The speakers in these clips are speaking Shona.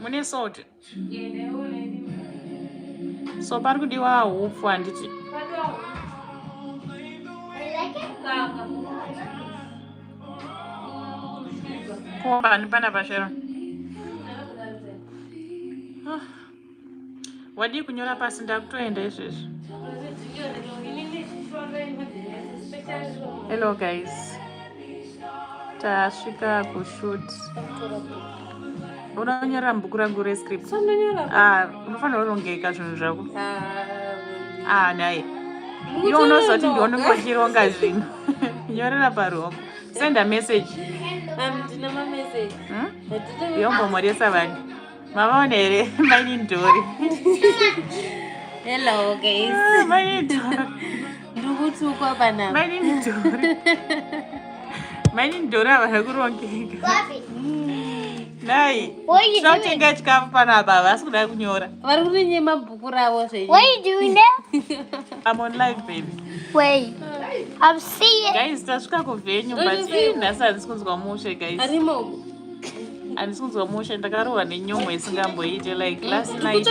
mune salt so pari kudiwa hupfu handiti kombani pana pashero wadii kunyora pasi ndakutoenda izvezvi hello guys tasvika kushut uda kunyora mubhuku rangu rescript ah, unofanira urongeka zvinhu zvako ah, ah dai iwe unozoti ndione kwachironga zvinhu nyorera paruoko senda message hmm? yombomoresa vanhu Mavaona here maini ndori. Hello guys. Ah, maini ndori. Ndikutukwa panapa. Maini ndori. Maini ndori ava zvakurongeka. Nai. Tinotenga chikafu panapa havasi kuda kunyora. Vari kurinye mabhuku ravo zvenyu. What are you doing there? I'm on live baby. Wait. I'm seeing. Guys, tasvika kuvenue but nhasi handisi kunzwa mushe guys. Arimo. handisi kunzwa mushe ndakarohwa nenyomwe isingamboite like last night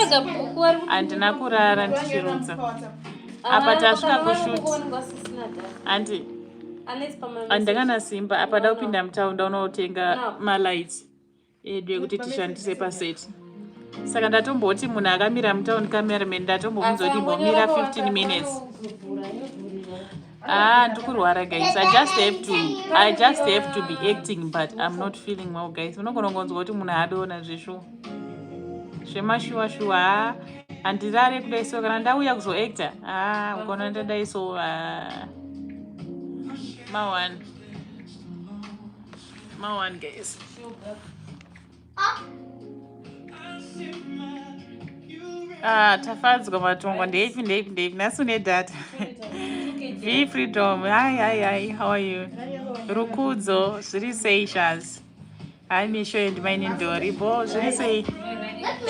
handina kurara ndichirutsa apa tasvika kushut handi handakana simba apa da kupinda mutown ndaunotenga malights edu ekuti tishandise paseti saka ndatomboti munhu akamira mutown cameraman ndatombomudza kuti imbomira 15 minutes Ah, ndikurwara guys. I just have to I just have to be acting but I'm not feeling well guys. Unogona kunzwa kuti munhu adoona zveshuwa. Zvemashuwa shuwa. Ah, andirare kudai so kana ndauya kuzo actor. Ah, ugona ndadai so ah. Ma one. Ma one guys. Ah, tafadzwa matongo ndeipi ndeipi ndeipi nhasi une data v freedom hi hi hi how are you rukudzo zviri sei shaz hi misho and maine ndori bo zviri sei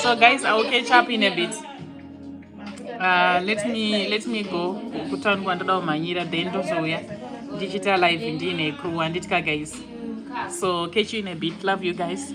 so guys i will catch up in a bit Uh, let me let me go kutaundi kwandoda kumhanyira then ndozouya ndichiita live ndiine crew handitya guys so catch you in a bit love you guys